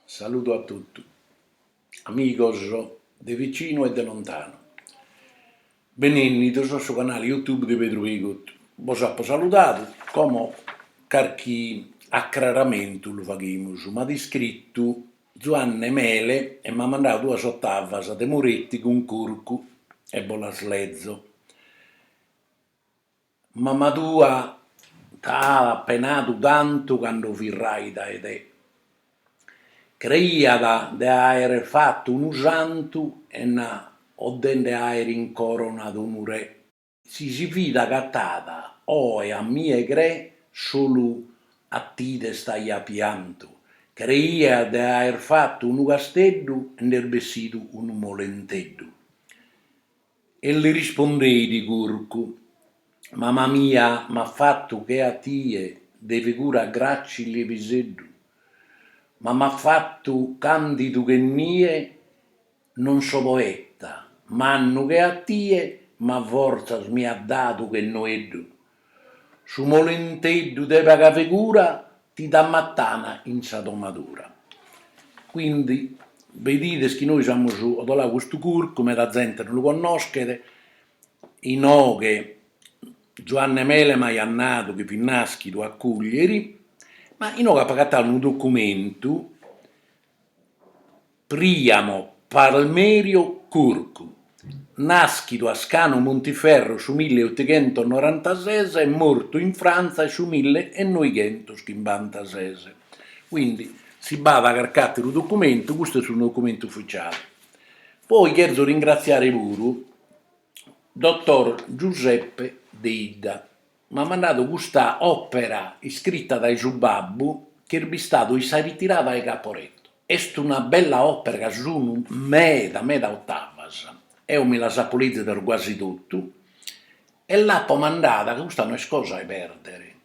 Saludu a totu, amigos de vicinu e de lontanu. Benennidos a su canale YouTube de Pedru Pigut. Bos apo saludadu, como carchi acraramentu lu faghimus, m'at iscritu Zuanne Mele e m'at mandadu duas ottavas de Moretti cun Curcu e bos las lezo. Mama tua t'at penadu tantu cando fit raida 'e te. Creiat de àere fatu unu santu e invetze de àere incoronadu unu re. Si si fit acatada oe a mie cre solu a tie t'aiat piantu. Creiat de àere fatu unu casteddu e nd'est bessidu unu molenteddu. E li rispondeit Curcu, Mama mia m'at fatu che a tie de figura gràcile e piseddu, ma m'at fatu candidu che nie non so poeta mannu che a tie ma fortzas mi at dadu che noeddu, Su molenteddu de paga figura ti dat matana in sa domadura. Quindi bedides chi nois amus odolau custu curcu, meda zente no lu connoschet, inoghe Zuanne Mele m'aiat nadu chi fit naschidu a Cuglieri, ma inoghe apo agatau unu documentu Priamo Palmerio Curcu, nàschidu a Scanu Muntiferru su mille otughentus norantases e mortu in Frantza su mille e noighentus chimbantases. Quindi si b'at carch'àteru documentu, custu est unu documentu ufficiale. Poi cherzo ringratziare puru dottor Giuseppe Deidda, m'at mandadu custa òpera iscrita dae su babbu chi est bistadu in sa ritirada 'e Caporetto. Est una bella òpera ca sun meda meda otavas, eo mi las apo lèzidas guasi totu e l'apo mandada, ca custa no est cosa 'e pèrdere,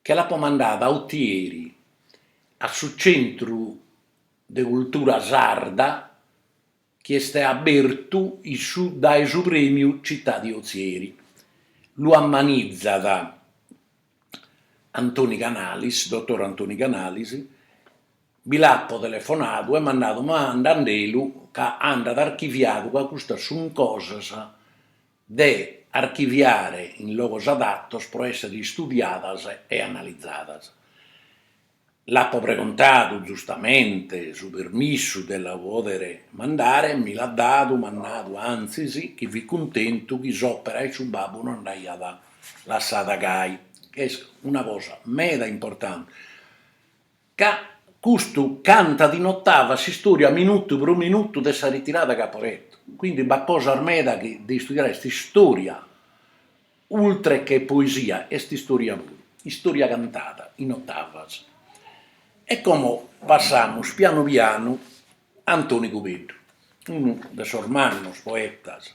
che l'apo mandada a Otieri a su Centru de Cultura Sarda chi est abertu issu dae su Prèmiu Città di Ozieri. Lu ammanitzat Antoni Canalis, dotor Antoni Canalis, bi l'apo telefonadu e m'at nadu, mandandelu ca andat archiviadu ca custas sunt cosas de archiviare in logos adatos pro èssere istudiadas e analizadas. L'apo pregontadu giustamente su permissu de la pòdere mandare e mi l'at dadu, m'at nadu antzis chi fit cuntentu chi s'òpera 'e su babbu no andaiat lassada gai, chi est una cosa meda importante, ca custu cantat in otava s'istòria minutu pro minutu de sa ritirada 'e Caporetto, quindi b'at cosas meda chi de istudiare, est istòria Ultre che poesia est istoria puru, istoria cantada in otavas. E como passamus pianu pianu a Antoni Cubeddu, unu de sos mannos poetas.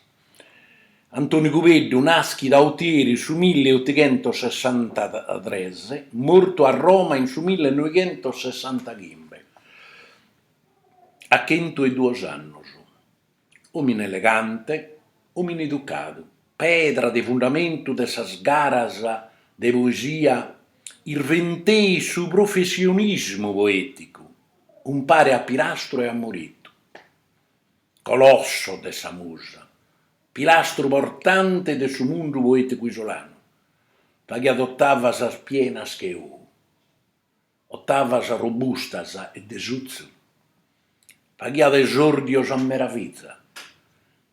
Antoni Cubeddu naschit a Otieri in su mille otighentossessantatres, mortu a Roma in su mille noighentossessantachimbe, a chentu e duos annos. Òmine elegante, òmine educadu, pedra de fundamentu de sas garas de poesia irventeit su professionismu poèticu, umpare a Pirastru e a Moritu. Colosso de sa musa, pilastru portante de su mundu poèticu isolanu, faghiat otavas pienas che ou. Otavas robustas e de sutzu, faghiat esòrdios a meraviza,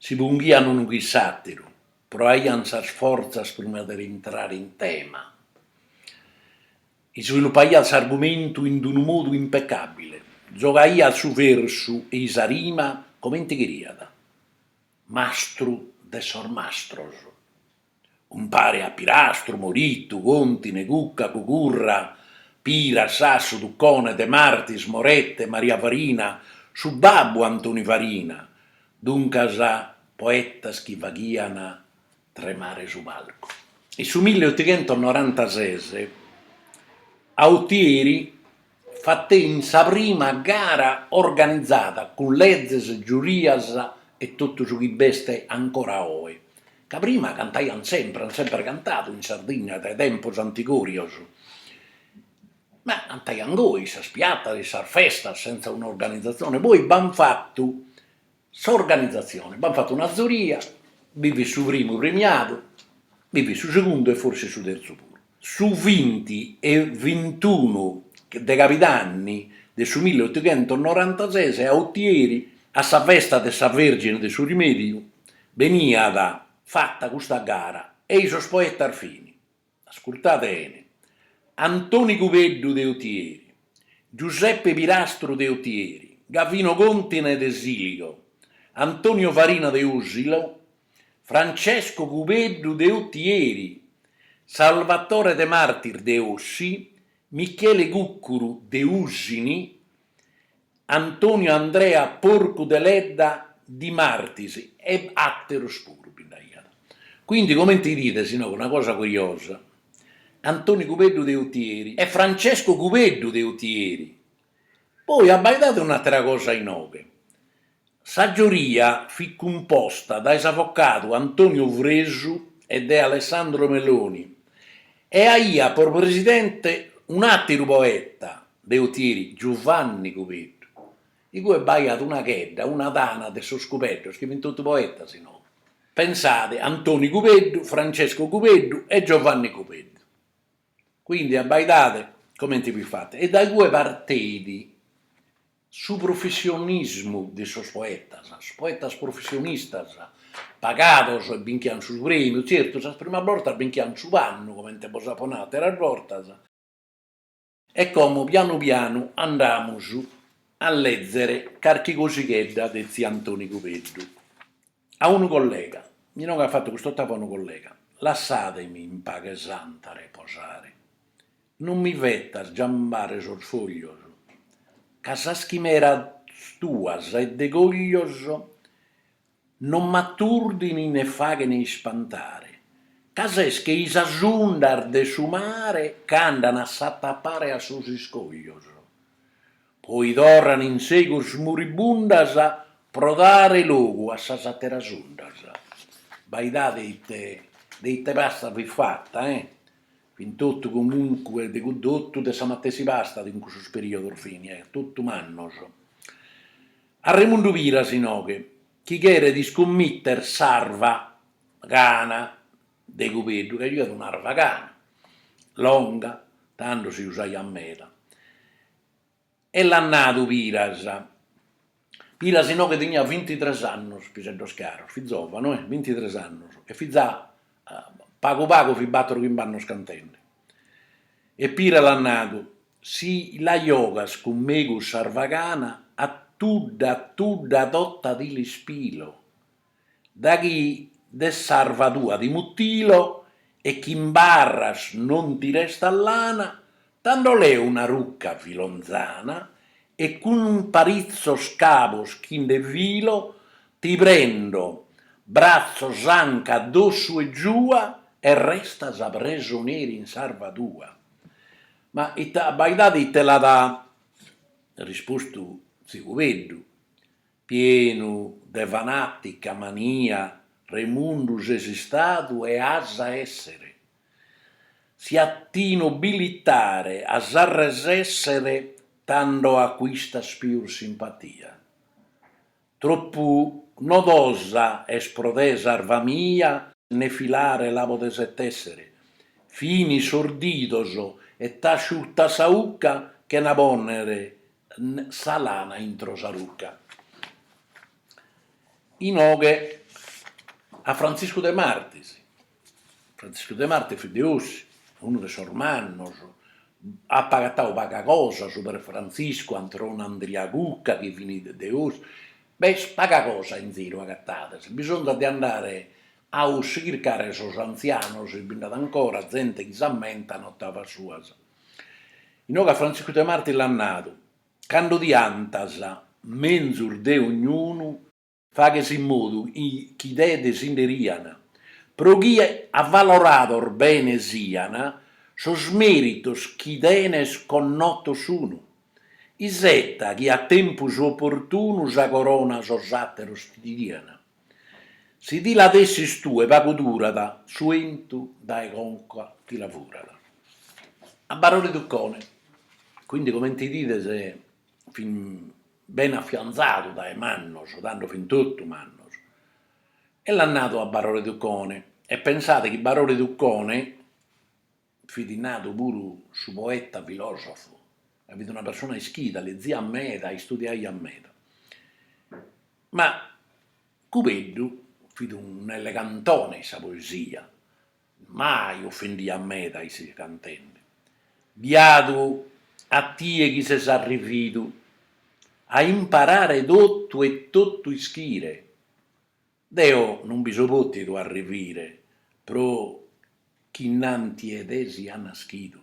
si punghian unu chin s'àteru, proaian sas fortzas prima de intrare in tema, isvilupaiat s'argumentu in d'unu modu impecàbile, giogaiat su versu e i sa rima comente cheriat, mastru de sos mastros. Umpare a Pirastru, Moritu, Contine, Cucca, Cugurra, Pira, Sassu, Tuccone, De Martis, Morette, Maria Farina, su babbu 'e Antoni Farina, duncas poetas chi faghian tremare su palcu. In su milleutighentos norantases a Otieri fatein sa prima gara organizada cun lezes, giurias e totu su chi b'est ancora oe, ca prima cantaiant sempre, ant sempre cantadu in Sardigna dae tempos antigorios, ma cantaiant goi in sas piatas, in sas festas, sentza un'organizatzione, poi b'ant fatu S'organizatzione, b'ant fatu una zuria, bi fit su primu premiadu, bi fit su segundu e forsis su terzu puru. Su binti e bintunu de cabidanni de su milleotochentosnorantases a Otieri, a sa festa de sa Vergine de su Rimediu, beniat fata custa gara e-i sos poetas fin. Ascurtade 'ene. Antoni Cubeddu de Otieri, Giuseppe Pirastru de Otieri, Gavino Contine de Siligo, Antonio Farina de Usilo, Francesco Cubeddu de Otieri, Salvatore Demartis de Ossi, Michele Cuccuru de Usini, Antonio Andrea Porcu Deledda di Martis e atteros puru bi nd'aiat. Quindi comente idides inoghe una cosa curiosa, Antonio Cubeddu de Utieri e Francesco Cubeddu de Utieri. Poi abbaidade un'attera cosa inoghe, Sa giuria fit cumposta dae s'avocadu Antonio Fresu e de Alessandro Meloni e aiat pro presidente un'àteru poeta de Otieri, Giuvanni Cubeddu. Igue b'aiat una chedda, una tana de sos Cubeddos chi fin totu poetas inoghe. Pensade, Antoni Cubeddu, Francesco Cubeddu e Giovanni Cubeddu. Quindi abbaidade comente fit fata e da igue parteit Su professionismu de sos poetas, sos poetas professionistas pagados e binchian su prèmiu, tzertu sas primas bortas binchian su pannu comente bos apo nau àteras bortas, e como pianu pianu andamus a lèzere carchi cosighedda de tziu Antoni Cubeddu. A unu collega, mi inoghe at fatu cust'otava a unu collega, lassàdemi in paghe santa reposare, non mi fetas giambare sos foglios, ca sas chimeras tuas e degoglios non m'aturdin ne faghen ispantare, ca ses chei sas undas de su mare ch'andan a s'atapare a sos iscoglios, Poi torran in segus muribundas pro dare logu a sas atteras undas. Abbaidade de ite pasta fit fatta, e fin totu comunque de totu de sa matessi pasta in cussu periodu fin totu mannos. A Remundu Piras inoghe, chi cheret iscommitter s'arva cana de Cubeddu, ca jughiat un'arva cana longa, tando si usaiat meda. E l'at nadu Piras, Piras inoghe teniat vintitres annos piseddos caros, fit zòvanu e, vintitres annos, e fit già pagu pagu fit bator chimb'annos cantende. E Piras l'at nadu, si la giogas cun megus s'arva cana, a tudda a tudda tota ti l'ispilo. daghi de s'arva tua ti mutilo e chi in barras non ti restat lana, tando leo una rucca filonzana e cun paritzos cabos chi nde filo ti prendo bratzos anca dossu e giua e restas presoneri in s'arva tua. Ma ite abbaidade ite l'at rispostu tziu Cubeddu, Pienu de fanàtica mania Remundu ses istadu e as a èssere, si a ti nobilitare as a resèssere tando acuistas pius simpatia. Tropu nodosa est pro te s'arva mia ne filare la podes e tèssere, finis sos didos e t'asciutas sa ucca chena pònnere sa lana intro sa rucca. Inoghe a Frantziscu de Martis, Frantziscu de Martis fit de Ossi, unu de sos mannos, apo agatadu paga cosa super Frantziscu, Antoni Andria Cucca chi fint de Ossi, b'est paga cosa in ziru agatada, e bisonzat de andare a Ossi chircare sos antzianos si bi nd'at ancora zente chi s'ammentat ottavas suas. Inoghe a Frantziscu de Martis l'at nadu, Cando ti 'antas menzus de ognunu, faghes in modu chi de te si nde rian, pro chi avalorados bene sian sos meritos chi tenes connotos sunu, iseta chi a tempus oportunu sa corona sos ateros ti dian. Si ti la tessis tue pagu durat, su 'entu dae conca ti la furat. A Barore Tuccone, quindi comente 'idides fin bene affianzadu dae mannos, tando fin totu mannos, e l'at nadu a Barore Tuccone, e pensade chi Barore Tuccone, Fit nadu puru su poeta filòsofu ca fit una persona ischida, leziat meda, istudiaiat meda. Ma Cubeddu fit un'elegantone in sa poesia, mai ofendiat meda isse cantende, biadu a tie chi ses arrividu a imparare totu e totu ischire, Deo non bi so pòtidu arrivire pro chi innanti 'e te sia naschidu,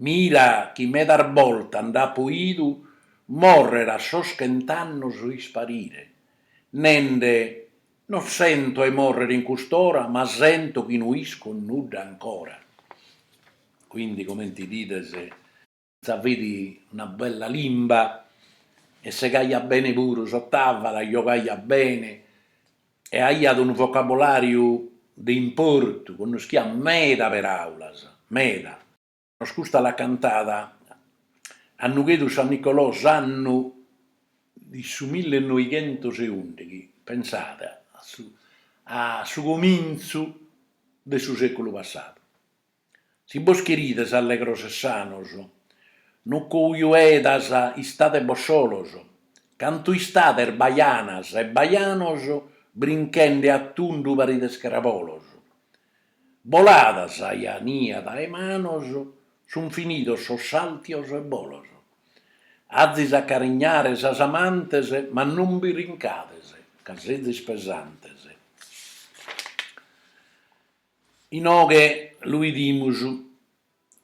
mira chi medas bortas nd'apo 'idu mòrrere a sos chent'annos o isparire, nende, non sento 'e mòrrere in cust'ora ma sento chi no isco nudda ancora. Quindi comente 'idides. Sa fit una bella limba e segaiat bene puru s'otava, la giogaiat bene e aiat unu vocabulàriu de importu, connoschiat meda peràulas, meda. Nos custa l'at cantada a Nughedu San Nicolò s'annu de su millenoighentos e ùndighi, pensade, a su a su comintzu de su sèculu passadu. Si bos cherides allegros e sanos, no cojuedas istadebos solos, cantu istades bajanas e bajanos brinchende a tundu parides crabolos. Bolada sa 'ajania dae manos, sun finidos sos sàltios e bolos. Azis a carignare sas amantes ma non brincades ca sezis pesantes. Inoghe lu 'idimus,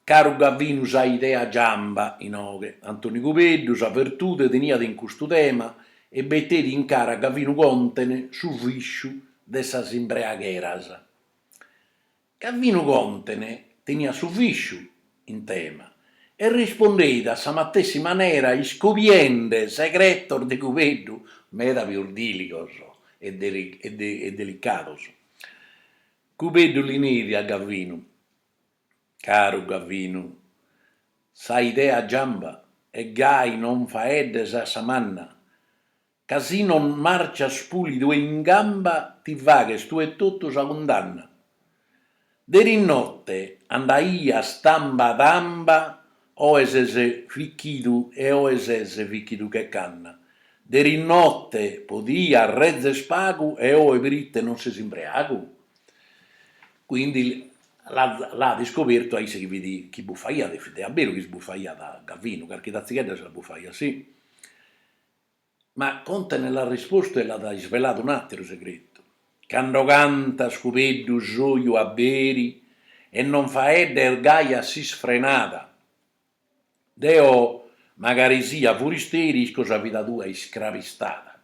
caru Gavinu sa idea giamba, inoghe, Antoni Cubeddu sa vertude teniat in custu tema e beteit in cara a Gavinu Contene su visciu de sas imbreagheras. Gavinu Contene teniat su visciu in tema e rispondeit a sa matessi manera iscobiende segretos de Cubeddu meda pius diligos e delicados. Cubeddu li neit a Gavinu, Caru Gavinu, sa idea giamba e gai non faeddes a sa manna, Ca si non marcias pulidu e in gamba ti faghes tue etotu sa cundanna. Deris note andaias tamba tamba oe ses fichidu e oe ses fichidu che canna. Deris note podias rezer pagu e oe prite non ses imbreagu? Quindi l'at iscobertu a isse chi fit chi bufaiat e fit a beru chi si bufaiat Gavinu, carchi tatzighedda si la bufaiat, sì. Ma Contene l'at rispostu e l'at isveladu un'àteru segretu, cando cantas, Cubeddu, s'oju aberi e non faeddes gai a s'isfrenada. Deo, magari sia furisteri, isco sa vida tua iscravistada.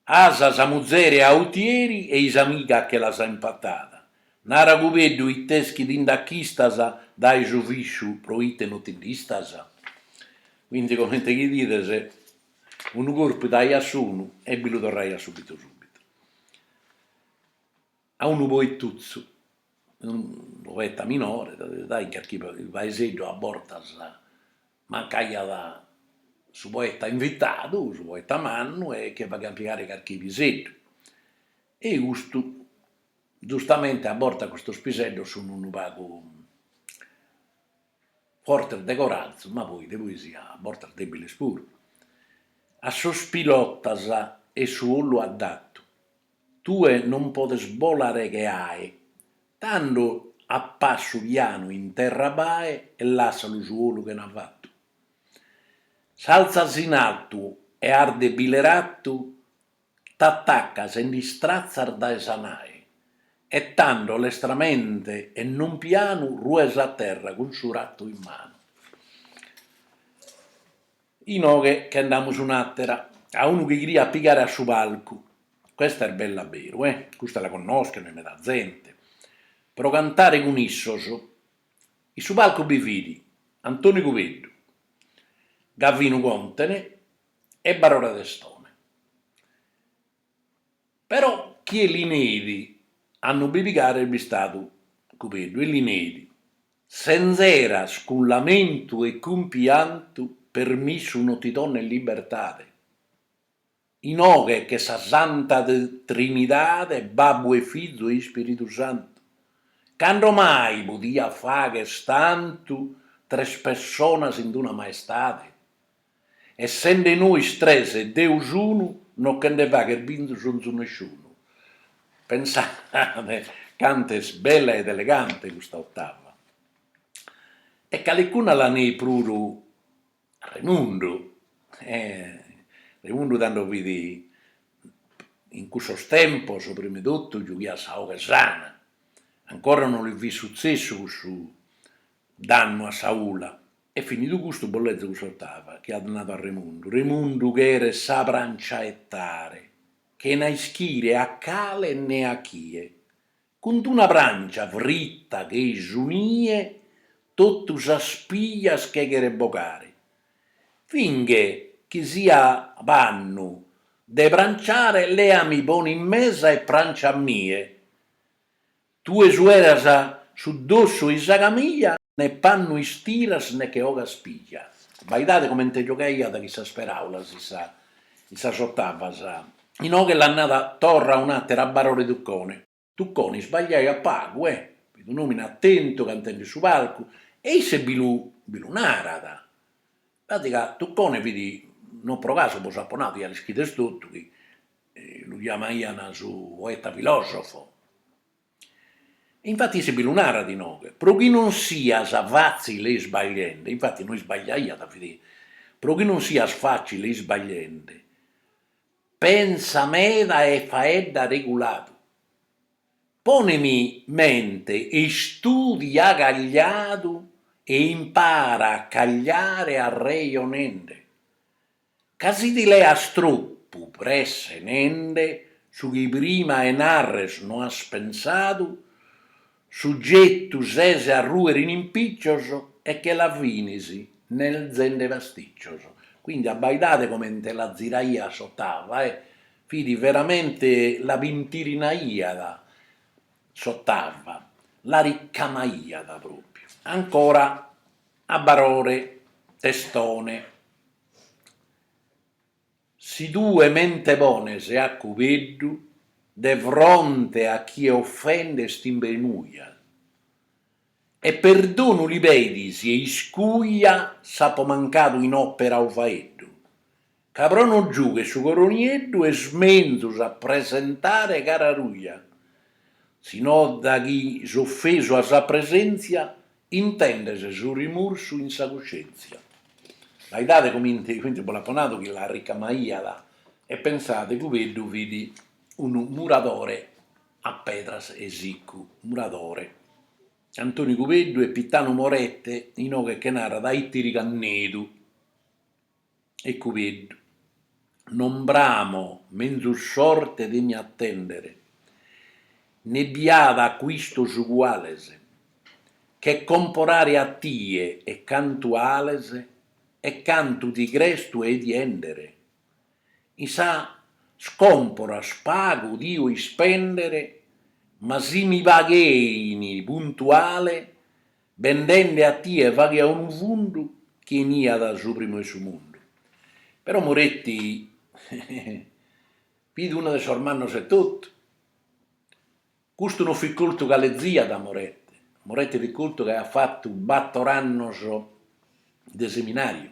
As sa muzere a Utieri e i s'amiga che l'as in Patada. Nara Cubeddu ite est chi ti nd'achistas dae su visciu pro ite no ti nd'istas? Quindi comente chi 'idides, unu corpu daiat s'unu e bi lu torraiat sùbitu sùbitu. a unu poetuzzu, unu poeta minore, ca in carchi paeseddu a bortas mancaiat su poeta invitadu, su poeta mannu e che faghiant pigare carchi piseddu e custu giustamente a bortas custos piseddos sun unu pagu fortes de corazu ma poi de poesia a bortas debiles puru. A sos pilotas est su 'olu addatu, Tue non podes bolare che ae, tando a passu pianu in terra bae e lassa·lu su 'olu chena fattu. S'alzas in altu e 'ardes bile rattu, t'attaccas e nd'istrazzas dae sa nae, e tando lestramente e non pianu rues a terra cun su rattu in manu. Inoghe ch'andamus un'atera, a unu chi cheriat pigare a su palcu. Custa est bella a beru, eh! Custa la connoschent meda zente, pro cantare cun issos. In su palcu bi fit Antoni Cubeddu, Gavinu Contene e Barore Testone. Però chie li neit a no bi pigare est bistadu Cubeddu e li neit, sessa, eras cun lamentu e cun piantu, permissu no ti donat libertade, inoghe ch'est sa Santa Trinidade, Babbu e Fizu e Ispiritu Santu, cando mai podiat fagher tantu tres pessonas in d-una maestade? Essende nois tres e deus unu, no che nde faghet bisonzu nesciunu. Pensade cant'est bella ed elegante custa ottava. E calicuna la neit puru a Remundu, e Remundu tando fit, in cussos tempos primi totu giughiat sa 'oghe sana, ancora no li fit sutzessu cussu dannu a sa 'ula, E finidu custu bos lezo cun s'ottava chi at nadu a Remundu, Remundu cheret sa prancia 'ettare, chena a ischire a cale ne a chie, cun d'una prancia fritta che-i su nie totu sas pijas che cheret bogare, finghe chi sia pannu de pranciare leami pone in mesa e prancia a mie, Tue sueras su dossu 'e sa camija, ne pannu istiras ne che ogas pija. Abbaidade comente giogaiat chin sas peraulas in sa in sas ottavas. Inoghe li nd'at nadu torra un'atera Barore Tuccone. Tuccone isbagliaiat pagu, eh! fit un'omine attentu cantende in su palcu e isse bi lu bi lu narat. pratica Tuccone fit non pro casu bos apo nadu, ia l'ischides totu chi lu chiamaian su poeta filosofo, infati isse bi lu narat inoghe, pro chi non sias fazzile isbagliende, infati no isbagliaiat fit, pro chi non sias fazzile isbagliende, pensa meda e faedda reguladu. Ponemi mente e istudia cagliadu e impara a cagliare arrejonende, ca si ti leas tropu presse nende su chi prima 'e narrer no as pensadu, sugetu ses a ruer in impiccios e che la finis nerzende pasticcios. Quindi abbaidade comente la ziraia s'otava e Fit veramente la pintirinaiat s'otava, la ricamaiat propriu. Ancora a Barore Testone. Si tue mente pones a Cubeddu de fronte a chie offendes t'imbenuja, E perdonu li pedis e iscuja s'apo mancadu in opera o faeddu, ca pro no giugher su coro nieddu est menzus a presentare cara ruja, si no da chi s'offesu as a presenzia intendes su rimursu in sa cuscenzia. Abbaidade comente comente bo l'apo nadu chi la ricamaiat e pensade Cubeddu fit unu muradore. a pedras 'e siccu, muradore, Antoni Cubeddu e Pittanu Morette inoghe che narat a Itiri Cannedu, e Cubeddu, non bramo menzus sorte de mi attendere, ne bi at acuistos uguales, che comporare a tie e cantu 'ales e cantu ti cres tue ti 'endere. in sas comporas pagu dio ispendere ma si mi paghein puntuale bendende a tie faghia unu fundu chi 'eniat su primu 'e su mundu, però Moretti fit unu de sos mannos etotu, custu non fit coltu ca leziat Moretti, Moretti fit coltu ca aiat fatu bator annos de seminariu.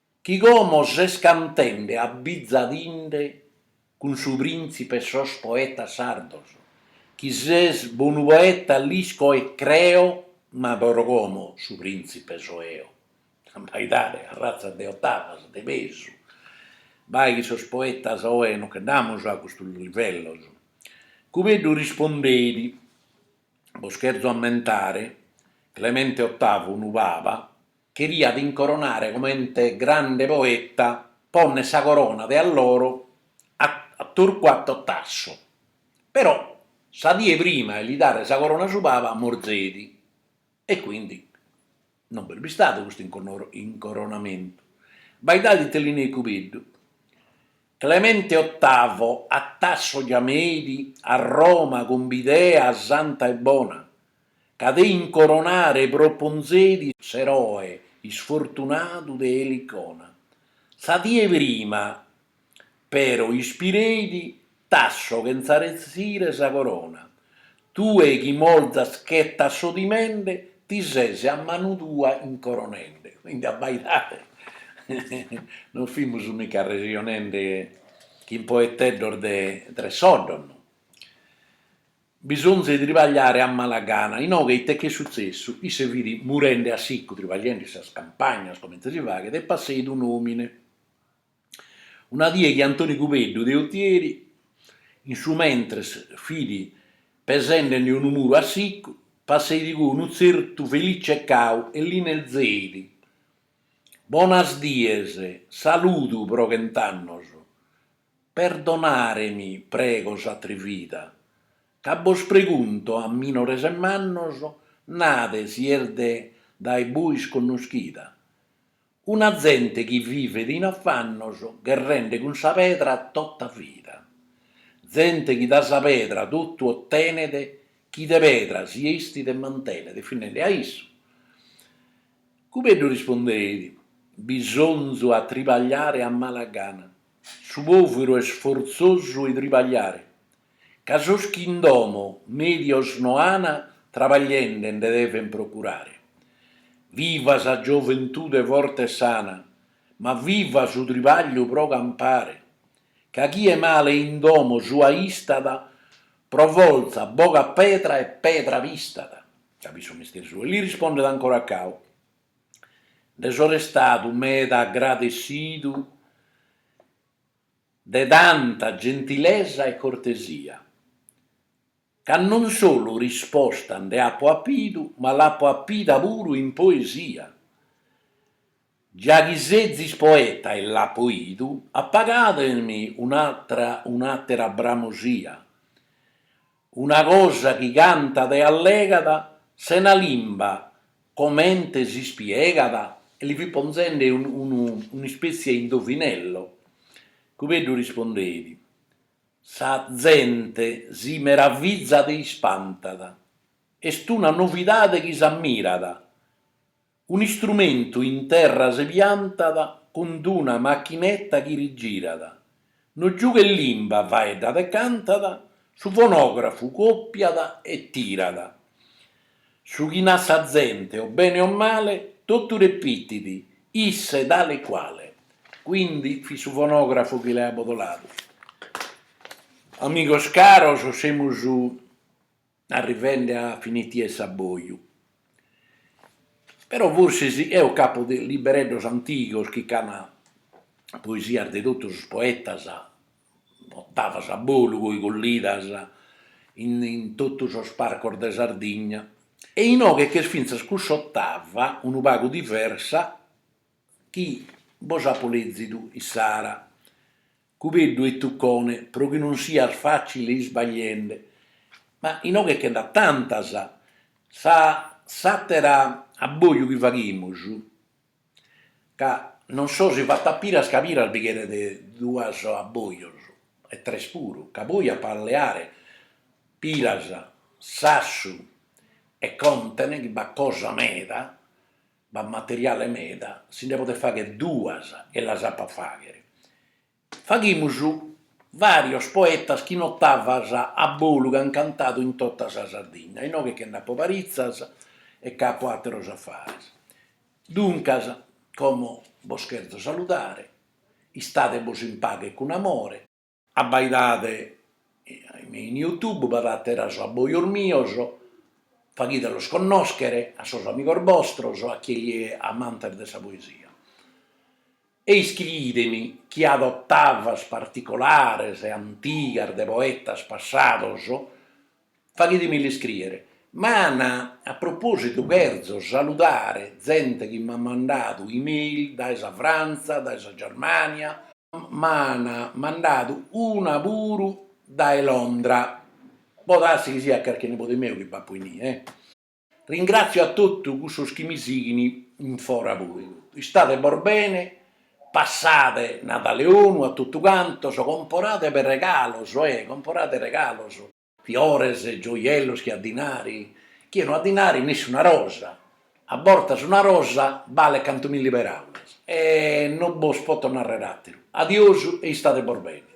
Chi como ses cantende abbizadinde cun su printzipe 'e sos poetas sardos, chi ses bonu poeta l'isco e creo ma pro como su printzipe so eo, abbaidade arratzas de otavas de pesu, bai chi sos poetas oe no che nd'amus a custos livellos. Cubeddu rispondeit, Bos cherzo ammentare, Clemente Ottavu unu paba, cheriat incoronare comente grande poeta ponner sa corona de alloro a a Torquato Tasso, però sa die prima 'e li dare sa corona su Papa morzeit e quindi non b'est bistadu custu inconoro incoronamentu, abbaidade ite li neit Cubeddu, Clemente Ottavo a Tasso giameit a Roma cun b'idea santa e bona, ca de incoronare proponzeit s'eroe isfortunadu de Elicona. Sa die prima, però, ispireit Tasso chentza retzire sa corona, Tue chi morzas chenza s'odimende, ti ses a manu tua incoronende. Quindi abbaidade, non fimus mica arrexionende chin poeteddos de tres soddos, no. Bisonzu 'e tribagliare a mala gana, inoghe ite ch'est sutzessu, isse fit murende a siccu tribagliende in sas campagnas comente si faghet e passeit un'omine. Una die chi Antoni Cubeddu de Otieri in su mentres fit pesende·nde unu muru a siccu, passeit igue unu tzertu Felice Cau e li nezeit, Bonas dies, saludu pro chent'annos, Perdonaremi prego s'atrivida, ca bos pregunto a minores e mannos, nade si est de dae buis connoschida, una zente chi vivet in afannos gherrende cun sa pedra tota vida, zente chi da sa pedra totu ottenet chi de pedra si estit e mantenet, finende a isse. Cubeddu rispondeit, Bisonzu a tribagliare a mala gana. Su pòviru est fortzosu 'e tribagliare, ca sos chi in domo mèdios no an, trabagliende nde deven procurare. Viva sa gioventude forte e sana, ma viva su tribagliu pro campare, ca chie male in domo sua istat, pro fortza bogat pedra e pedra pistat. Capidu su mestiere suo? E li rispondet ancora Cau. Nde so restadu meda agradessidu de tanta gentilesa e cortesia, ca non solu risposta nde apo apidu, ma l'apo apida puru in poesia, già chi sezis poeta e l'apo 'idu apagademi un'atera bramosia, Una cosa chi cantat e allegat sena limba, comente si spiegat? E li fit ponzende unu un'ispètzia 'e indovinello. Cubeddu rispondeit, Sa zente si meravizat e ispantat. Est una novidade chi s'ammirat. Un'istrumentu in terra se piantat cun d-una machineta chi rigirat, no giughet limba faeddat e cantat, su fonografu còpiat e tirat, su chi nat sa zente o bene o male totu repitit isse tale e quale. Quindi fit su fonografu chi l'aiat abbodoladu. Amigos caros semus arrivende a finitia 'e s'abboju, però forsis eo ch'apo de libereddos antigos chi ch'an poesias de totu sos poetas, ottavas a bolu poi collidas in in totu sos palcos de Sardigna, e inoghe ch'est fintzas cussa ottava unu pagu diversa chi bos apo lezidu issara Cubeddu e Tuccone, pro chi non sias facile isbagliende, ma inoghe che nd'at tantas, sa s'atera abboju chi faghimus, ca non so si fato a Piras ca Piras bi cheret duas abbojos, e tres puru, ca poi apo a leare Piras, Sassu e Contene chi b'at cosa meda, b'at materiale meda, si nde podent fagher duas e las apo a fagher. Faghimus varios poetas chi in ottavas a bolu ch'an cantadu in totta sa Sardigna, inoghe che nd'apo paritzas e ch'apo atteros affares. Duncas, como bos cherzo saludare, istade·bos in paghe cun amore. Abbaidade in YouTube b'at àteras abbojos mios, faghide los connòschere a sos amigos bostros e a chie est amante de sa poesia. E iscriide mi chie at ottavas particolares e antigas de poetas passados Faghide mi l'iscriere. Ma a propositu cherzo saludare zente chi m'at mandadu email dae sa Frantza, dae sa Germania, m'ana mandadu una puru dae Londra, podassi chi siat carchi nebode meu chi b'apo inie. Ringrazio a totu cussos chi mi sighint in fora puru. Istade bos bene, passade Nadale 'onu a totu cantos, comporade per regalos, eh, comporade regalos, fiores, gioiellos chie at dinari, chie no at dinari nessi una rosa, a bortas una rosa balet cantu milli peraulas, e no bos poto narrer ateru, adiosu e istade bos bene.